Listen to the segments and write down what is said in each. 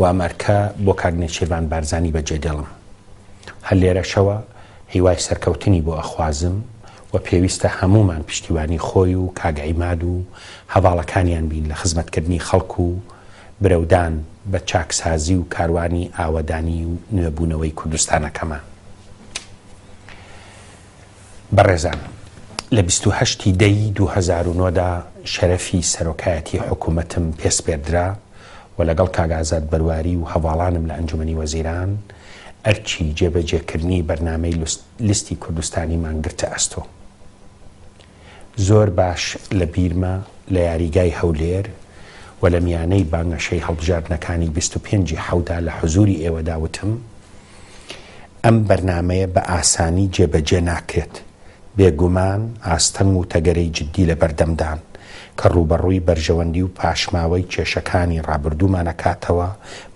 وام ئەرکە بۆ کاک نێچیرڤان بارزانی بەجێ دێڵم. هەر لێرەشەوە هیوای سەرکەوتنی بۆ ئەخوازم و پێویستە هەموومان پشتیوانی خۆی و کاک عیماد و هەڤاڵەکانیان بین لە خزمەتکردنی خەڵک و برەودان بە چاکسازی و کاروانی ئاوەدانی و نوێبوونەوەی کوردستانەکەمان. بەڕێزان، لە بیست و هەشت ی دە ی دوو هەزار و نۆ دا شەرەفی سەرۆکایەتی حکوومەتم پێ سپێردرا و لەگەڵ کاک ئازاد بەرواری و هەڤاڵانم لە ئەنجومەنی وەزیران ئەرکی جێبەجێکردنی بەرنامەی لیستی کوردستانیمان گرتە ئەستۆ. زۆر باش لە بیرمە لە یاریگای هەولێر و لە میانەی بانگەشەی هەڵبژاردنەکانی بیست و پێنج ی حەودا لە حزووری ئێوەدا وتم ئەم بەرنامەیە بە ئاسانی جێبەجێ ناکرێت، بێگومان ئاستەنگ و تەگەرەی جددی لە بەردەمدان کە ڕووبەڕووی بەرژەوەندی و پاشماوەی کێشەکانی ڕابردوومان ئەکاتەوە،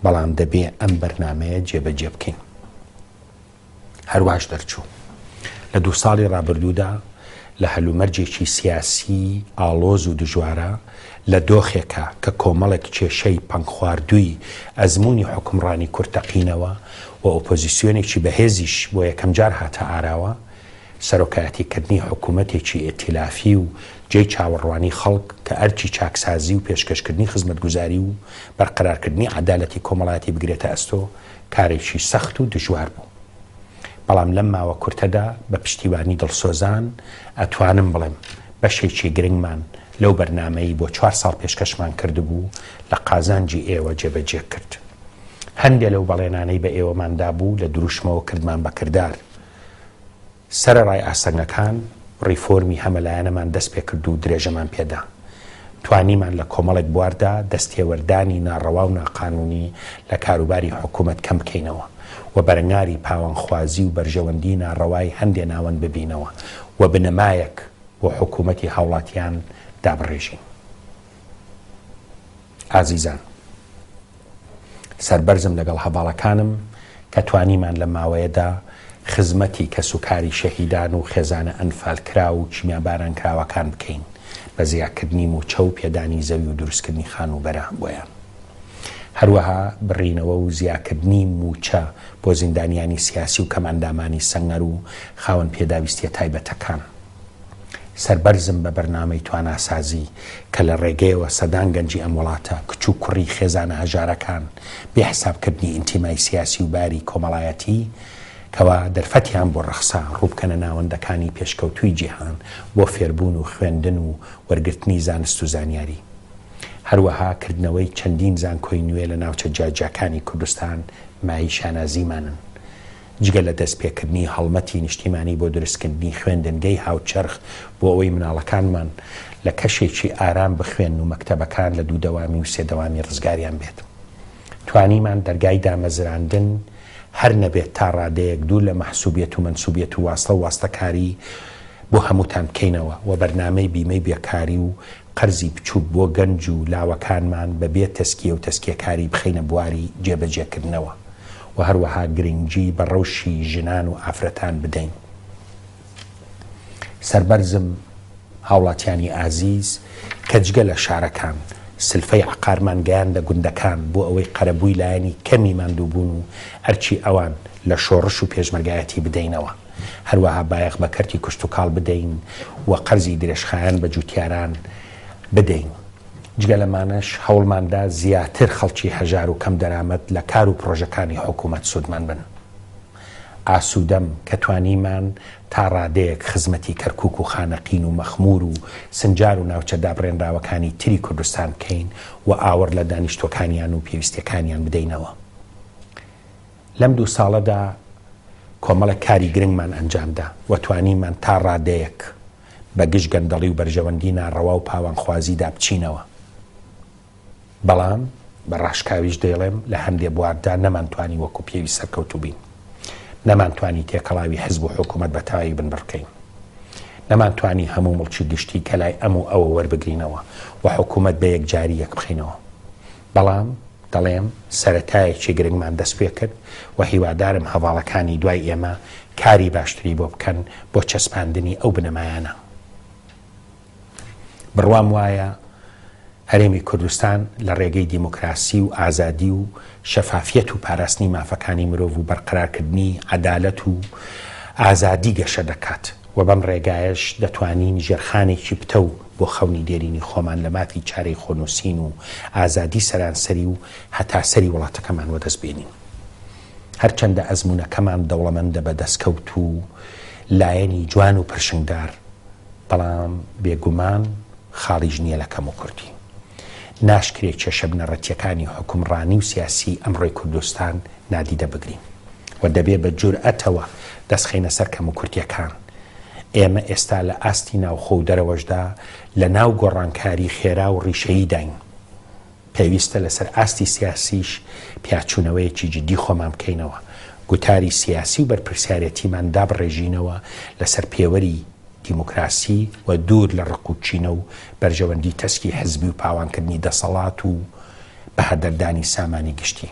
بەڵام دەبێ ئەم بەرنامەیە جێبەجێ بکەین. هەرواش دەرچوو. لە دوو ساڵی ڕابردوودا لە هەلومەرجێکی سیاسیی ئاڵۆز و دژوارا، لە دۆخێکا کە کۆمەڵێک کێشەی پەنگخواردووی ئەزموونی حوکمڕانی کورد تەقینەوە و ئۆپۆزیسیۆنێکی بەهێزیش بۆ یەکەمجار هاتە ئاراوە، سەرۆکایەتیکردنی حکوومەتێکی ئیتیلافی و جێی چاوەڕوانیی خەڵک کە ئەرکی چاکسازی و پێشکەشکردنی خزمەتگوزاری و بەرقەرارکردنی عەدالەتی کۆمەڵایەتی بگرێتە ئەستۆ، کارێکی سەخت و دژوار بوو، بەڵام لەم ماوە کورتەدا بە پشتیوانی دڵسۆزان ئەتوانم بڵێم بەشێکی گرنگمان لەو بەرنامەی بۆ چوار ساڵ پێشکەشمان کردبوو لە قازانجی ئێوە جێبەجێ کرد. هەندێ لەو بەڵێنانەی بە ئێوەمان دابوو لە دروشمەوە کردمان بە کردار. سەرەڕای ئاستەنگەکان، ڕیفۆرمی هەمەلایەنەمان دەست پێ کرد و درێژەمان پێ دا. توانیمان لە کۆمەڵێک بواردا دەستتێوەردانی ناڕەوا و ناقانوونی لە کاروباری حکوومەت کەم بکەینەوە و بەرەنگاری پاوانخوازی و بەرژەوەندیی ناڕەوای هەندێ ناوەند ببینەوە و بنەمایەک بۆ حکوومەتی هاوڵاتیان دابڕێژین. ئازیزان! سەربەرزم لەگەڵ هەڤاڵەکانم کە توانیمان لەم ماوەیەدا خزمەتی کەسوکاری شەهیدان و خێزانە ئەنفالکراو و کیمیابارانکراوەکان بکەین بە زیاکردنی مووچە و پێدانی زەوی و دروستکردنی خانووبەرە بۆیان. هەروەها بڕینەوە و زیاکردنی مووچە بۆ زیندانیانی سیاسی و کەمئەندامانی سەنگەر و خاوەن پێداویستییە تایبەتەکان. سەربەرزم بە بەرنامەی تواناسازی کە لە ڕێگەیەوە سەدان گەنجی ئەم وڵاتە کچ و کوڕی خێزانە هەژارەکان بێ حسابکردنی ئینتیمای سیاسی و باری کۆمەڵایەتی کەوا دەرفەتیان بۆ ڕەخسا ڕووبکەنە ناوەندەکانی پێشکەوتووی جیهان بۆ فێربوون و خوێندن و وەرگرتنی زانست و زانیاری هەروەها کردنەوەی چەندین زانکۆی نوێ لە ناوچە جیاجیاکانی کوردستان مای شانازیمانن. جگە لە دەستپێکردنی هەڵمەتی نیشتیمانی بۆ دروستکردنی خوێندنگەی هاوچەرخ بۆ ئەوەی مناڵەکانمان لە کەشێکی ئارام بخوێن و مەکتەبەکان لە دوو دەوامی و سێ دەوامی ڕزگاریان بێت توانیمان دەرگای دامەزراندن هەر نەبێت تا ڕادەیەک دوور لە مەحسوبیت و منسوبیت و واستە و واستەکاری بۆ هەمووتان بکەینەوە و بەرنامەی بیمەی بێکاری و قەرزی بچووک بۆ گەنج و لاوەکانمان بەبێ تەسکیە و تەسکیەکاری بخەینە بواری جێبەجێکردنەوە. و هەروەها گرنگی بە ڕەوشی ژنان و ئافرەتان بدەین. سەربەرزم هاوڵاتیانی ئازیز کە جگە لە شارەکان سلفەی عەقارمان گەیاندە گوندەکان بۆ ئەوەی قەرەبووی لایەنی کەمی ماندووبوون و ئەرکی ئەوان لە شۆڕش و پێشمەرگایەتی بدەینەوە هەروەها بایەخ بە کەرتی کشتوکاڵ بدەین و قەرزی درێژخایەن بە جووتیاران بدەین. جگە لەمانەش هەوڵماندا زیاتر خەڵکی هەژار و کەم دەرامەت لە کار و پرۆژەکانی حکوومەت سوودمەند بن. ئاسوودەم کە توانیمان تا ڕادەیەک خزمەتی کەرکووک و خانەقین و مەخموور و سنجار و ناوچە دابڕێنراوەکانی تری کوردستان بکەین و ئاوڕ لە دانیشتووەکانیان و پێویستییەکانیان بدەینەوە. لەم دوو ساڵەدا کۆمەڵێک کاری گرنگمان ئەنجام دا و توانیمان تا ڕادەیەک بە گژ گەندەڵی و بەرژەوەندی ناڕەوا و پاوانخوازیدا بچینەوە. بەڵام بە ڕاشکاویش دەیڵێم لە هەندێ بواردا نەمانتوانی وەکو پێویست سەرکەوتوو بین. نەمانتوانی تێکەڵاوی حزب و حکوومەت بە تەواوی بنبڕکەین. نەمانتوانی هەموو مڵکی گشتی کە لای ئەم و ئەوە وەربگرینەوە و حکوومەت بە یەکجاری یەکبخەینەوە. بەڵام دەڵێم سەرەتایەکی گرنگمان دەست پێ کرد و هیوادارم هەڤاڵەکانی دوای ئێمە کاری باشتری بۆ بکەن بۆ چەسپاندنی ئەو بنەمایانە. بڕوام وایە هەرێمی کوردستان لە ڕێگەی دیموکراسی و ئازادی و شەفافیەت و پاراستنی مافەکانی مرۆڤ و بەرقەرارکردنی عەدالەت و ئازادی گەشە دەکات و بەم ڕێگایەش دەتوانین ژێرخانێکی پتەو بۆ خەونی دێرینی خۆمان لە مافی چارەی خۆنووسین و ئازادی سەرانسەری و هەتا سەری وڵاتەکەمان وەدەست بێنین. هەرچەندە ئەزموونەکەمان دەوڵەمەندە بە دەستکەوت و لایەنی جوان و پرشنگدار، بەڵام بێ گومان خاڵیش نییە لە کەموکورتی. ناشکرێ کێشە بنەڕەتییەکانی حوکمڕانی و سیاسیی ئەمڕۆی کوردستان نادیدە بگرین و دەبێ بە جورئەتەوە دەستخەینە سەر کەموکورتییەکان. ئێمە ئێستا لە ئاستی ناوخۆ و دەرەوەشدا لە ناو گۆڕانکاری خێرا و ڕیشەییداین. پێویستە لەسەر ئاستی سیاسیش پیاچوونەوەیەکی جددی خۆمان بکەینەوە، گوتاری سیاسی و بەرپرسیارێتیمان دابڕێژینەوە لەسەر پێوەری دیموکراسی و دوور لە ڕق و کینە و بەرژەوەندی تەسکی حزبی و پاوانکردنی دەسەڵات و بەهەدەردانی سامانی گشتی.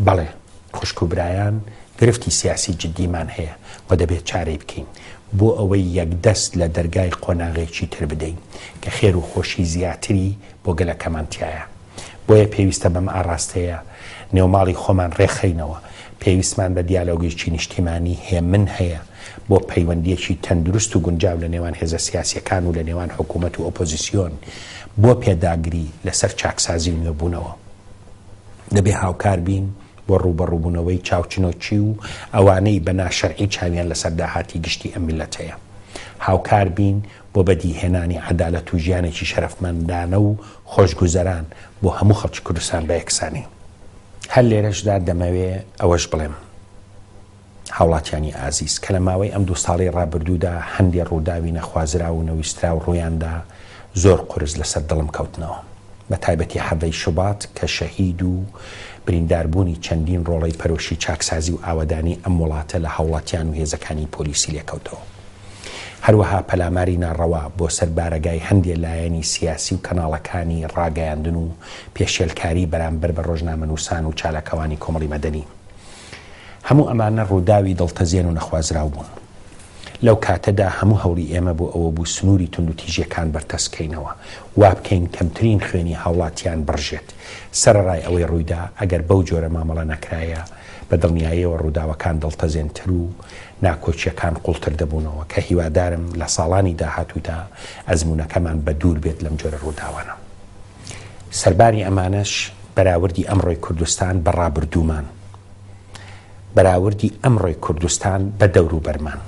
بەڵێ. خوشک و برایان گرفتی سیاسی جدیمان هەیە و دەبێت چارەی بکەین بۆ ئەوەی یەکدەست لە دەرگای قۆناغێکی تر بدەین کە خێر و خۆشی زیاتری بۆ گەلەکەمان تیایە. بۆیە پێویستە بەم ئاڕاستەیە نێوماڵی خۆمان ڕێکخەینەوە. پێویستمان بە دیالۆگێکی نیشتیمانی هێمن هەیە بۆ پەیوەندیەکی تەندروست و گونجاو لە نێوان هێزە سیاسیەکان و لە نێوان حکوومەت و ئۆپۆزیسیۆن بۆ پێداگری لەسەر چاکسازی و نوێبوونەوە. دەبێ هاوکار بین بۆ ڕووبەڕووبوونەوەی چاوچنۆکی و ئەوانەی بە ناشەرعی چاویان لەسەر داهاتی گشتی ئەم میللەتەیە. هاوکار بین بۆ بەدیهێنانی عەدالەت و ژیانێکی شەرەفمەندانە و خۆشگوزەران بۆ هەموو خەڵکی کوردستان بە یەکسانی. هەر لێرەشدا دەمەوێ ئەوەش بڵێم. هاوڵاتیانی ئازیز کە لە ماوەی ئەم دوو ساڵەی ڕابردوودا هەندێ ڕووداوی نەخوازراو و نەویستراو ڕوویاندا زۆر قورس لەسەر دڵم کەوتنەوە بە تایبەتی حەڤدە ی شوبات کە شەهید و بریندار بوونی چەندین ڕۆڵەی پەرۆشی چاکسازی و ئاوەدانی ئەم وڵاتە لە هاوڵاتیان و هێزەکانی پۆلیسی لێکەوتەوە هەروەها پەلاماری ناڕەوا بۆ سەر بارەگای هەندێ لایەنی سیاسی و کەناڵەکانی ڕاگەیاندن و پێشێلکاری بەرامبەر بە ڕۆژنامەنووسان و چالاکەوانی کۆمەڵی مەدەنی هەموو ئەمانە ڕووداوی دڵتەزێن و نەخوازراو بوون. لەو کاتەدا هەموو هەوڵی ئێمە بۆ ئەوە بوو سنووری توندوتیژییەکان بەرتەسک کەینەوە، وا بکەین کەمترین خوێنی هاوڵاتیان بڕژێت. سەرەڕای ئەوەی ڕوویدا، ئەگەر بەو جۆرە مامەڵە نەکرایە، بە دڵنیاییەوە ڕووداوەکان دڵتەزێنتر و ناکۆکییەکان قووڵتر دەبوونەوە، کە هیوادارم لە ساڵانی داهاتوودا ئەزموونەکەمان بە دوور بێت لەم جۆرە ڕووداوانە. سەرباری ئەمانەش، بەراوردی ئەمڕۆی کوردستان بە ڕابردوومان، بەراوردی ئەمڕۆی کوردستان بە دەوروبەرمان،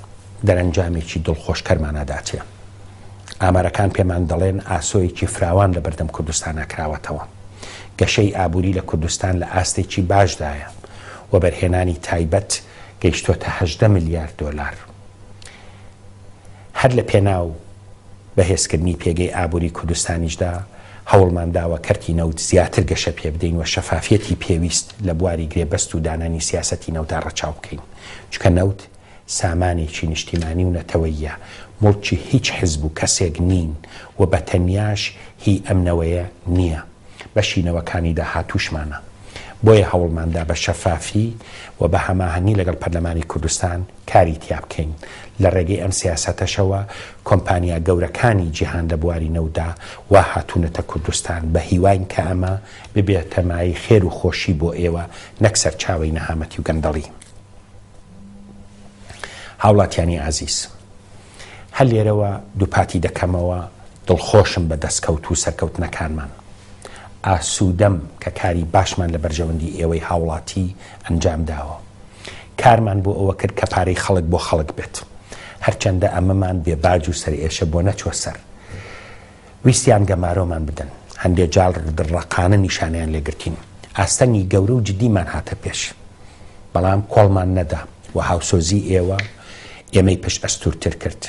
دەرەنجامێکی دڵخۆشکەرمانە داتێ. ئامارەکان پێمان دەڵێن ئاسۆیەکی فراوان لە بەردەم کوردستانا کراوەتەوە. گەشەی ئابووری لە کوردستان لە ئاستێکی باشدایە. وەبەرهێنانی تایبەت گەیشتۆتە هەژدە ملیار دۆلار. هەر لە پێناو بەهێزکردنی پێگەی ئابووری کوردستانیشدا هەوڵمان داوە کەرتی نەوت زیاتر گەشە پێ بدەین و شەفافیەتی پێویست لە بواری گرێبەست و دانانی سیاسەتی نەوتدا ڕەچاو بکەین چکە نەوت سامانێکی نیشتیمانی و نەتەوەیە مڵکی هیچ حزب و کەسێک نین و بە تەنیاش هی ئەم نەوەیە نییە بەشی نەوەکانی داهاتوشمانە بۆیە هەوڵماندا بە شەفافی و بە هەماهەنگی لەگەڵ پەرلەمانی کوردستان کاری تیا بکەین، لە ڕێگەی ئەم سیاسەتەشەوە کۆمپانیا گەورەکانی جیهان لە بواری نەوتدا وا هاتوونەتە کوردستان، بە هیواین کە ئەمە ببێتە مایەی خێر و خۆشی بۆ ئێوە نەک سەرچاوەی نەهامەتی و گەندەڵی. هاوڵاتیانی ئازیز! هەر لێرەوە دووپاتی دەکەمەوە دڵخۆشم بە دەستکەوت و سەرکەوتنەکانمان. ئاسوودەم کە کاری باشمان لە بەرژەوەندی ئێوەی هاوڵاتی ئەنجام داوە. کارمان بۆ ئەوە کرد کە پارەی خەڵک بۆ خەڵک بێت. هەرچەندە ئەمەمان بێ باج و سەرئێشە بۆ نەچووە سەر. ویستیان گەمارۆمان بدەن، هەندێ جار دڕەقانە نیشانەیان لێ گرتین، ئاستەنگی گەورە و جدیمان هاتە پێش، بەڵام کۆڵمان نەدا و هاوسۆزی ئێوە ئێمەی پشت ئەستوورتر کرد،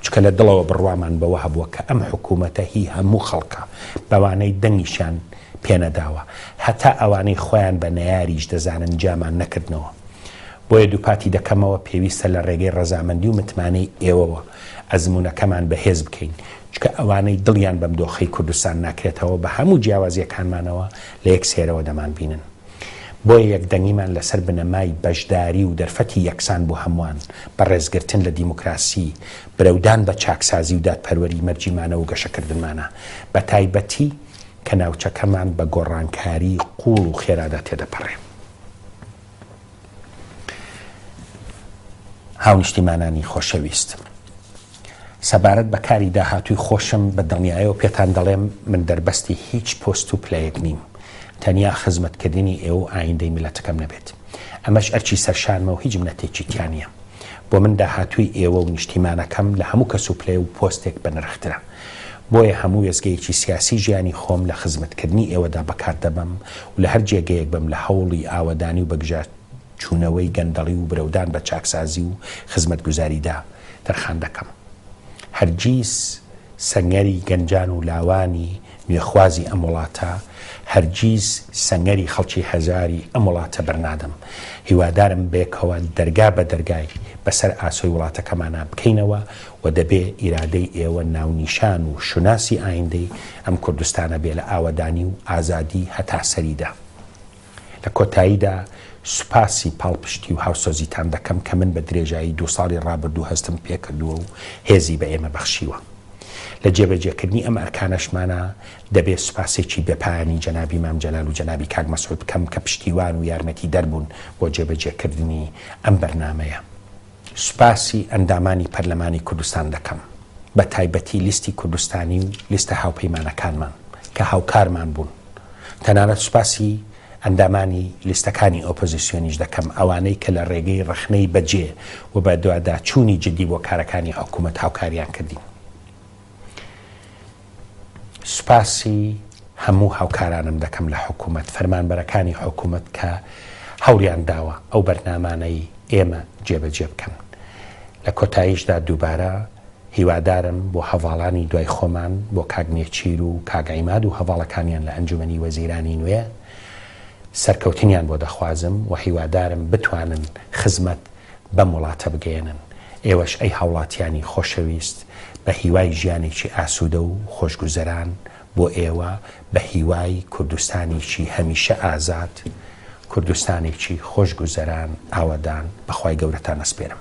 چونکە لە دڵەوە بڕوامان بەوە هەبووە کە ئەم حکوومەتە هی هەموو خەڵکە، بەوانەی دەنگیشیان پێ نەداوە، هەتا ئەوانەی خۆیان بە نەیاریش دەزانن جیامان نەکردنەوە. بۆیە دووپاتی دەکەمەوە پێویستە لە ڕێگەی ڕەزامەندی و متمانەی ئێوەوە ئەزموونەکەمان بەهێز بکەین، چونکە ئەوانەی دڵیان بەم دۆخەی کوردستان ناکرێتەوە بە هەموو جیاوازییەکانمانەوە لە یەک سێرەوە دەمانبینن. بۆیە یەکدەنگیمان لەسەر بنەمای بەشداری و دەرفەتی یەکسان بۆ هەمووان بە ڕێزگرتن لە دیموکراسی، برەودان بە چاکسازی و دادپەروەری مەرجی مانەوە و گەشەکردنمانە، بە تایبەتی کە ناوچەکەمان بە گۆڕانکاریی قووڵ و خێرادا تێدەپەڕێ. هاونیشتیمانانی خۆشەویست، سەبارەت بە کاری داهاتووی خۆشم بە دڵنیایەوە پێتان دەڵێم من دەربەستی هیچ پۆست و پلەیەک نیم، تەنیا خزمەتکردنی ئێوە و ئایندەی میللەتەکەم نەبێت. ئەمەش ئەرکی سەرشانمە و هیچ منەتێکی تیا نییە. بۆ من داهاتووی ئێوە و نیشتیمانەکەم لە هەموو کەس و پلە و پۆستێک بەنرخترە. بۆیە هەموو وێستگەیەکی سیاسی ژیانی خۆم لە خزمەتکردنی ئێوەدا بەکار دەبەم و لە هەر جێگەیەک بم لە هەوڵی ئاوەدانی و بەگژاچوونەوەی گەندەڵی و برەودان بە چاکسازی و خزمەتگوزاریدا تەرخان دەکەم. هەرگیز سەنگەری گەنجان و لاوانی نوێخوازی ئەم وڵاتە، هەرگیز سەنگەری خەڵکی هەژاری ئەم وڵاتە بەرنادەم. هیوادارم بەیەکەوە دەرگا بە دەرگای بەسەر ئاسۆی وڵاتەکەمانا بکەینەوە و دەبێ ئیرادەی ئێوە ناونیشان و شوناسی ئایندەی ئەم کوردستانە بێ لە ئاوەدانی و ئازادی هەتا سەریدا. لە کۆتاییدا سوپاسی پاڵپشتی و هاوسۆزیتان دەکەم کە من بە درێژایی دوو ساڵی ڕابردوو هەستم پێ کردووە و هێزی بە ئێمە بەخشیوە. لە جێبەجێکردنی ئەم ئەرکانەشمانا دەبێ سوپاسێکی بێپایانی جەنابی مام جەلال و جەنابی کاک مەسعود بکەم کە پشتیوان و یارمەتیدەر بوون بۆ جێبەجێکردنی ئەم بەرنامەیە. سوپاسی ئەندامانی پەرلەمانی کوردستان دەکەم، بە تایبەتی لیستی کوردستانی و لیستە هاوپەیمانەکانمان کە هاوکارمان بوون. تەنانەت سوپاسی ئەندامانی لیستەکانی ئۆپۆزیسیۆنیش دەکەم، ئەوانەی کە لە ڕێگەی ڕەخنەی بەجێ و بەدواداچوونی جددی بۆ کارەکانی حکوومەت هاوکاریان کردین. سوپاسی هەموو هاوکارانم دەکەم لە حکومەت، فەرمانبەرەکانی حکومەت کە هەوڵیان داوە ئەو بەرنامانەی ئێمە جێبەجێ بکەن. لە کۆتاییشدا دووبارە هیوادارم بۆ هەڤاڵانی دوای خۆمان، بۆ کاک نێچیر و کاک عیماد و هەڤاڵەکانیان لە ئەنجومەنی وەزیرانی نوێ، سەرکەوتنیان بۆ دەخوازم و هیوادارم بتوانن خزمەت بەم وڵاتە بگەیەنن، ئێوەش ئەی هاوڵاتیانی خۆشەویست بە هیوای ژیانێکی ئاسودە و خۆشگوزەران بۆ ئێوە بە هیوای کوردستانێکی هەمیشە ئازاد کوردستانێکی خۆش گوزەران ئاوەدان بەخوای گەورەتان ئەسپێرم.